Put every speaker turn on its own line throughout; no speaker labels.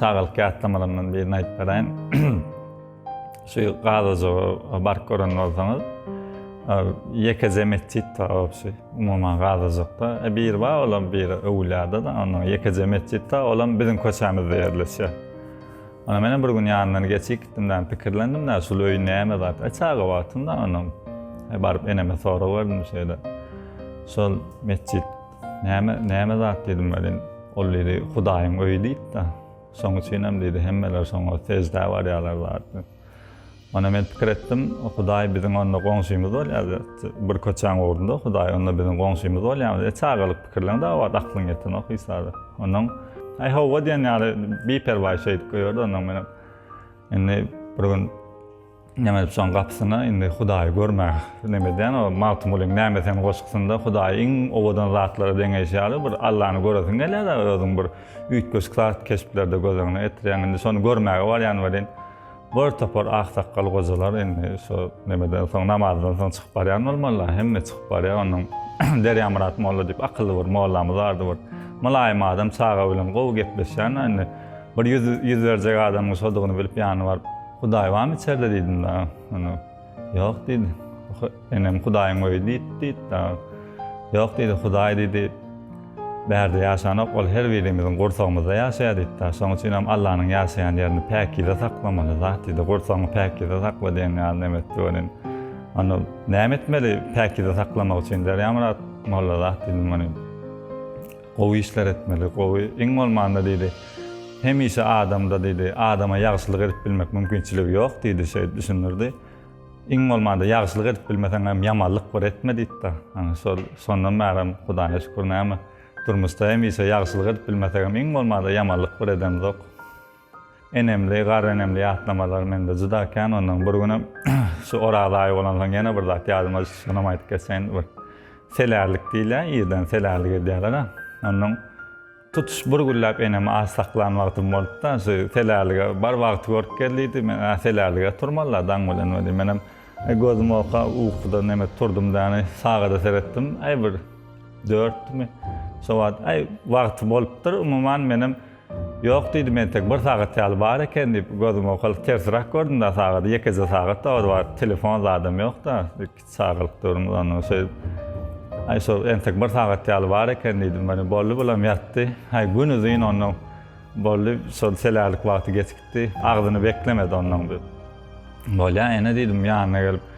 Çagalyk ýatlamalarymdan birini aýdyp beraýyn. Şu gazajy baryp gören bolsaňyz, ýekeje metjit bar obşi. Umuman gazajykda. E biri bar, olam biri öwlüýada-da, onda ýekeje metjit bar, olam biziň köçämizde ýerleşýär. Onda menem bir gün ýanyndan geçip gitdim, näme pikirlendim, näme şul öý näme zat. E çaga wagtym-da onuň. E baryp eneme sorag berdim şeýle. Şol metjit Näme, näme zat diýdim welin, ol diýdi, Hudaýyň öýi diýip-de, şoň üçinem diýdi, hemmeler şoňa seždä barýarlar zatdy. Onda men pikir etdim, Hudaý biziň onda goňşymyz bolýardy, bir köçäň ugrunda Hudaý onda biziň goňşymyz bolýarmydy? E, çagalyk pikirleň dagy wagt aklyň ýetenok Isada. Ondan Aý hawa diýen ýaly biperwaý şeýdip goýardy ondan menem. Indi bir gün Neme edip şoň gapysyna indi Hudaýy görmäge neme edýän, o Magtymgulyň Näme sen goşgusynda Hudaýy iň owadan zatlara deňeýşi ýaly bir Allany göresiň gelýär-de, özüň bir üýtgeşik zat keşplerde göz öňüne getirýäň. Indi şony görmäge barýan welin, bir topar aksakgal gojalar indi şu nemeden soň, namazdan soň çykyp barýan bolmalylar. Hemme çykyp barýar. Onuň Derýamyrat molla diýip akylly bir mollamyz bardy bir. Mylaýym adam, çaga bilen gowy gepleşýän-ä indi. Bir ýüz, ýüz berjek adamyň şodugyny bilip ýanyna baryp, Hudaý barmy içerde diýdim dagy. Ony ýok diýdi. Enem Hudaýyň öýi diýdi diýdi dagy. Ýok diýdi, Hudaý diýdi. Bärde ýaşanok, ol her birimiziň gursagymyzda ýaşaýar diýdi dagy. Şonuň üçin hem Allanyň ýaşaýan ýerini päkize saklamaly zat diýdi. Gursagyňy päkize sakla diýen ýaly näme etdi welin. Onda näme etmeli päkize saklamak üçin Derýamyrat molla zat diýdim welin. Gowy işler etmeli, gowy, iň bolmanda diýdi, hemişe adamda diýdi, adama ýagşylyk edip bilmek mümkinçiligi ýok diýdi, şeýdip düşündirdi. Iň bolmanda ýagşylyk edip bilmeseňem ýamanlyk bir etme diýdi-de. Ana şol, şondan bärem Hudaýa şükür näme, durmuşda hemişe ýagşylyk edip bilmesegem iň bolmanda ýamanlyk bir edemzok. Enemli, garynenemli ýatlamalar mende juda kän. Onnoň bir günem şu Oraz aýy bolansoň ýene bir zat ýadyma düşdi. Şonam aýdyp geçeýin. Bir selärlik diýilýär. Irden selärlik edýärler-ä. Onnoň tutuş bir günläp enemi aç saklan wagtym bolupdy-da. Şu selärlige bar wagty görüp gel diýdi. Men, Ä, selärlige turmaly-da daň bilen welin. Menem gözüm oka ukudan nemes turdum däni. Sagada seretdim. Äý, bir dörtmi? Şo wagt, äý, wagty bolupdyr. Umuman, menem. Ýok, diýdim, entek bir sagat ýaly bar eken, diýip, gözüm owkalyp tersiräk gördüm-de sagady, ýekeje sagat dabara bar, telefon zadam ýok-da, iki çagalyk döwrümiz onnoň şeýdip, aý, şo entek bir sagat ýaly bar eken, diýdim, ony, boldy, bulam ýatdy, aý, gün uzyn onnoň, boldy, şol selärlik wagty geçipdi, agzyny beklemedi onnoň, diýip, bolýa, ene, diýdim, ýanyna gelip.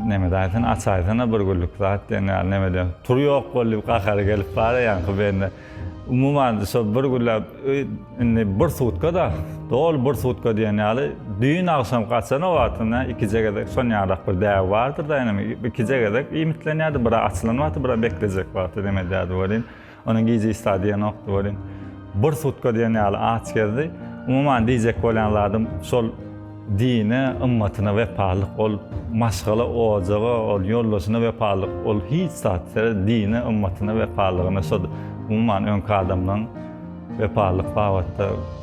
Nemed aýsana aç aýsana bir günlük zat diýen ýaly nemede pul ýok boldy diýip gahary gelip bara ýaňky bende umuman şol bir günläp öý indi bir sutka da doly bir sutka diýen ýaly düýn agşam gaçan o wagtyna ikije gezek şon ýarak bir däbi bardyr da inem ikije gezek iýmitlenýärdi biri açylan wagty biri beklejek wagty neme edýärdi welin Onuň gije işdä diýen nokdy welin bir sutka diýen ýaly aç gezdi. Umuman diýjek bolýan zadym şol dine, ymmatyna wepalylyk ol maşgala, ojaga, ol ýoldaşyna wepalylyk ol hiç zat sered dine, ymmatyna wepalylygyna şod umuman öňki adamlaň wepalylyk babatda